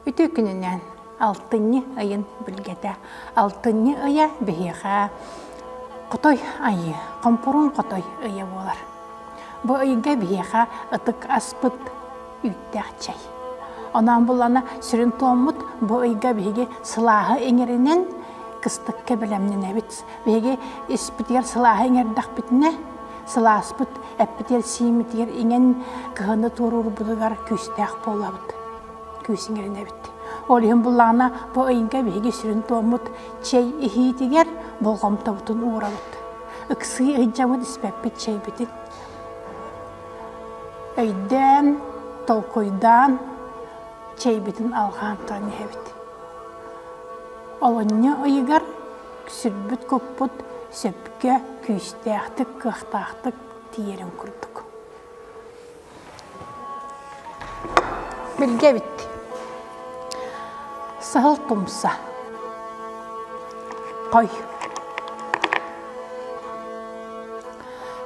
Үтүө күнүнэн! Алтынньы ыйын билгэтэ. Алтынньы ыйа биһиэхэ Хотой айыы, хомпуруун хотой ыйа буолар. Бу ыйга биһиэхэ ытык аспыт үүттээх чэй. Онон булана сүрүн туоммут бу ыйга биһиги сылааһы иҥэринэн кыстыкка бэлэмнэнэбит. Биһиги испитигэр сылааһы иҥэрдэхпитинэ, сылааспыт эппитигэр сииммитигэр иҥэн кыһыны туоруурбутугар күүстээх буолабыт. Күүс иҥэринэбит. Ол иһин буллаҕына бу ыйга биһиги сүрүн туоммут чэй иһиитигэр болҕомтобутун уурабыт. Ыксыы ыһдьабыт испэппит чэйбитин өйдөөн, толкуйдаан, чэйбитин алҕаан туран иһэбит. Олунньу ыйыгар сирбит-куппут сөпкө, күүстээхтик-кыахтаахтык тиийэрин курдук. Билгэбит. Саһыл тумса. Хой.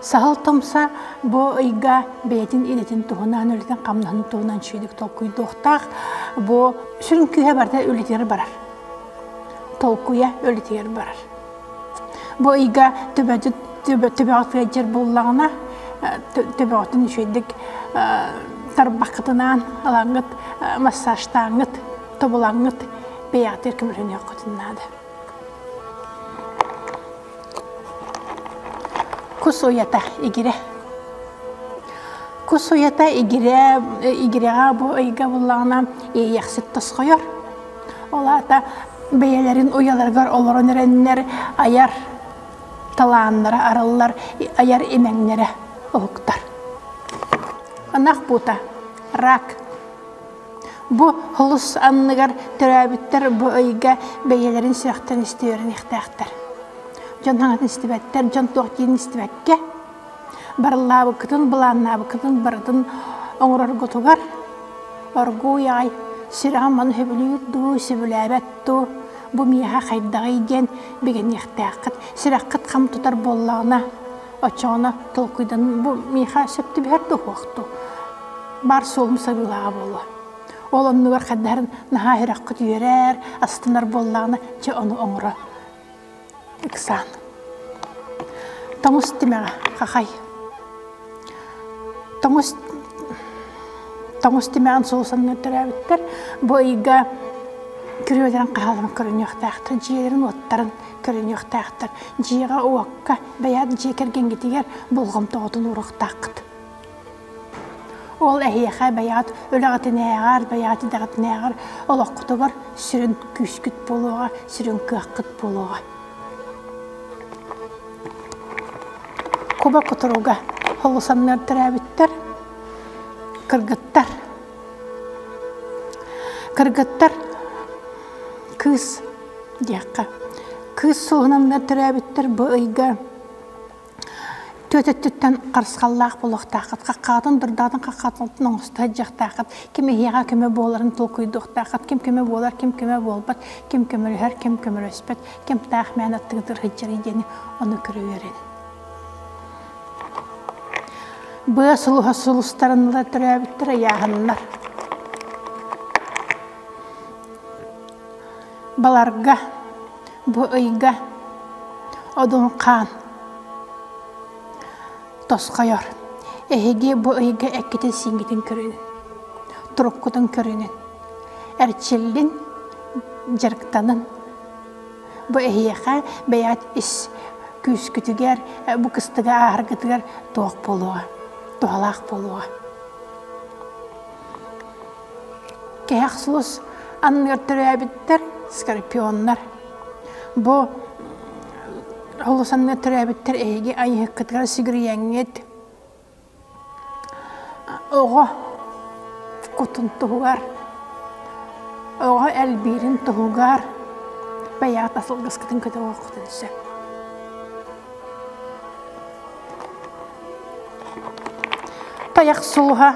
Саһыл тумса бу ыйга бэйэтин инэтин туһунан, үлэтин хамнаһын туһунан чүйдүк толкуйдуохтаах. Бу сүрүн күүһэ барда үлэтигэр барар. толкуйа үлэтигэр барар. Бу ыйга төбөҕө сыадьар буоллаҕына, төбөҕүтүн үчүгэйдик тарбаххытынаан ылаҥҥыт, массажтааҥҥыт, тобулаҥҥыт бэйэҕитигэр көмөлөһүнүөххүтүн наада. Кус уйата игирэ. Кус уйата игирэ, игирэҕэ бу ыйга буллаҕына иэйэхсит тосхойор. Ол аата бэйэлэрин уйаларыгар олорон эрэннэр айар талааннара арыллар, айар имэҥнэрэ уһуктар. Ынах буута, рак. Бу холус анныгар төрөөбүттэр бу ыйга бэйэлэрин сүрэхтэн истиэриэхтээхтэр. Дьон хаҥатын истибэттэр, дьон туох диин истибэккэ, Барыллаабыккытын, былааннаабыккытын барытын оҥороргутугар оргууй аҕай сүрэҕим ону сөбүлүүр дуу, сөбүлээбэт дуу, бу миэхэ хайдаҕый диэн бигэниэхтээххит. Сүрэххит хам тутар буоллаҕына, оччоҕуна толкуйдан бу миэхэ сөп түбэһэр да уһуох дуу, баар суолум сабыылааҕа буолуо. Ол оннугар хардаһарын наһаа сүрэххит үөрэр, астынар буоллаҕына, чэ, ону оҥоро ыксаан тоҥус тимэҕэ хахай тоҥус тоҥус тимэҕин суусанныы төрөөбүттэр бу ыйга күрүөлэрин хаһаларын көрүнүөхтээхтэр дьиэлэрин-уоттарын көрүнүөхтээхтэр дьиэҕэ уокка бэйэт дьиэ кэргэнгитигэр болҕомтоҕутун уурахтааххыт Ол эһиэхэ бэйэҕит үлэҕитинээҕэр, бэйэҕит идэҕитинээҕэр олоххутугар сүрүн күүскүт буолуоҕа, сүрүн кыаххыт буолуоҕа. Куба кутуруга холусаннар төрөөбүттэр. Кыргыттар. Кыргыттар кыыс диэххэ. Кыыс суоһунаннар төрөөбүттэр бу ыйга Түөт өттүттэн харысхаллаах болуохтааххыт, хаххаатын дурдаатын хаххаатын оҥостор дьахтааххыт, ким эһиэҕэ көмө буоларын толкуйдуохтааххыт, ким көмө буолар, ким көмө буолбат, ким көмөлөһөр, ким көмөлөспөт, ким таах мээн аттыгытын сылдьарый диэни ону көрө үөрэн. Быа сулуһа сыл устарын ыла төрөөбүттэр ыйааһыннар. Баларга, бу ыйга Одуҥхаан тосхойор. Эһиги бу ыйга эккитин-сииҥҥитин көрүҥ, туруккутун көрүнүн, эрчиллин, дьарыктанын. Бу эһиэхэ бэйэҕит ис күүскүтүгэр, бу кыстыгы ааһаргытыгар туох буолуоҕа, туһалаах буолуоҕа. Кэхсуус анныгар төрөөбүттэр скорпионнар. Бу олус анныгар төрөөбүттэр эһиги айыһыккытыгар сигирийэҥҥит. Оҕо кутун туһугар, оҕо элбиирин туһугар бэйэҕит асылгыскытын көтөҕүөххүтүн сөп. Тайах сууһа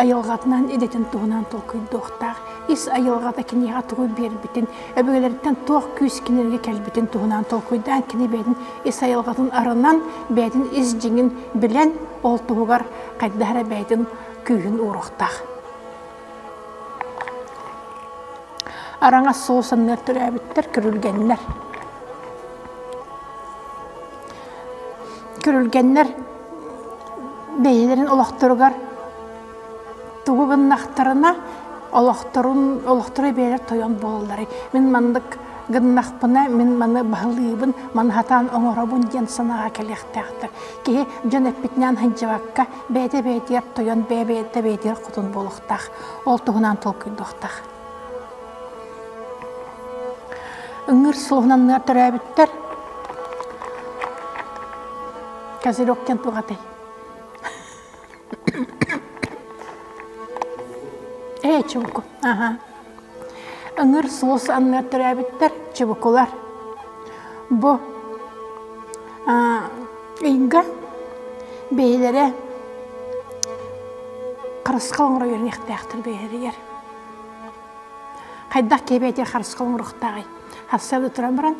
айылҕатынан идэтин туһунан толкуйдуохтаах ис айылҕата киниэхэ тугу биэрбитин өбүгэлэриттэн туох күүс кинилэргэ кэлбитин туһунан толкуйдаан кини бэйэтин ис айылҕатын арынан бэйэтин ис дьиҥин билэн ол туһугар хайдах эрэ бэйэтин күүһүн ууруохтаах араҥас суол санныар төрөөбүттэр көрүлгэннэр Көрүлгэннэр бэйэлэрин олохторугар тугу гыннахтарына олохторун олохторо бэйэлэр тойон буолаллар. Мин маннык гыннахпына мин маны баһылыыбын, маны хатаан оҥоробун диэн санааҕа кэлиэхтээхтэр. Киһи дьон эппитинээн сылдьыбакка бэйэтэ бэйэтигэр тойон, бэйэ бэйэтэ бэйэтигэр хотун буолуохтаах. Ол туһунан толкуйдуохтаах. Ыҥыыр суоһунанныар төрөөбүттэр. Козырек кем тугатай. Ээ, чубуку. Аха. Ыҥыр суос анныар төрөөбүттэр чубукулар. Бу ыйга бэйэлэрэ харысхал оҥоро үөрнэхтээхтэр бэйэлэригэр. Хайдах кэбиэтир харысқал мурухтаҕай? Харсалы туран баран,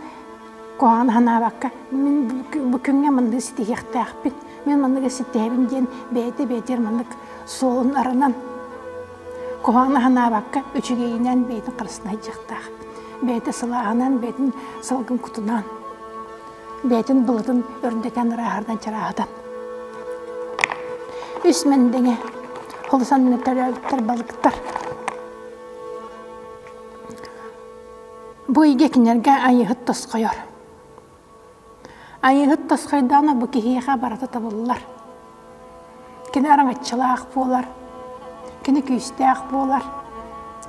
куһаҕан ханаабакка, мин бу күҥҥэ манныгы ситиһиэхтээхпин, мин манныгы ситиһэбин диэн бэйэтэ бэйэтигэр маннык суолун арынан, куһаҕан ханаабакка үчүгэйинэн бэйэтин харысына сылааһынан, бэйэтин салгын кутунаан, бэйэтин былытын өрүндэтэн ырааһардан чарааһытан. Үс мэндэҥэ олус анны төрөөбүттэр балыктар. Бу иге кинерге айыһыт тосхойор. Айыһыт тосхойдооно бу киһиэхэ барата табыллар. Кини араҥаччылаах буолар, кини күүстээх буолар,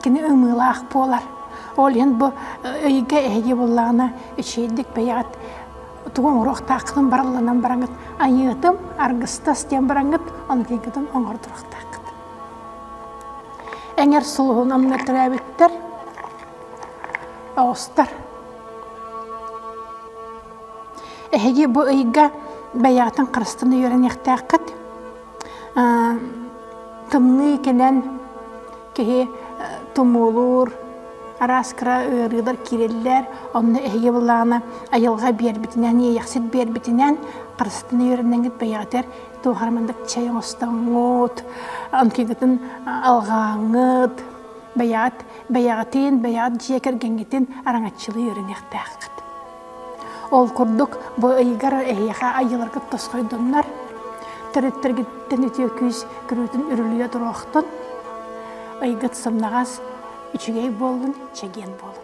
кини ымыылаах буолар. Ол иһин бу өйгө эһиги буллаҕына эчэйдик бэйэҕит тугу оҥоруохтааххытын барылланан бараҥыт айыытым аргыстас диэн бараҥыт ону тыйгытын оҥордуруохтааххыт. Эҥэр сулуһун амна төрөөбүттэр оҕустар Эһиги бу ыйга бэйэҕитин харыстан үөрэниэхтээххит. Тымныы кэлэн киһи тумуулуур, араас кыра ыарыылар киирэллэр. Онно эһиги былаана айылҕа биэрбитинэн, иэйэхсит биэрбитинэн харыстан үөрэнэҥҥит бэйэҕитигэр туохара маннык чэй оҥостоҥҥут, онтуйгутун алҕааҥҥыт, бэйэҕит бэйэҕитин, бэйэҕит дьиэ кэргэҥҥитин араҥаччылыы үөрэниэхтээххит. Ол курдук, бу ыйыгар эһиэхэ айыыларгыт тосхойдуннар, төрүттэргиттэн үтүө күүс көрүүтүн үрүлүйэ туруохтун, ыйгыт сымнаҕас, үчүгэй буоллун, чэгиэн буолун.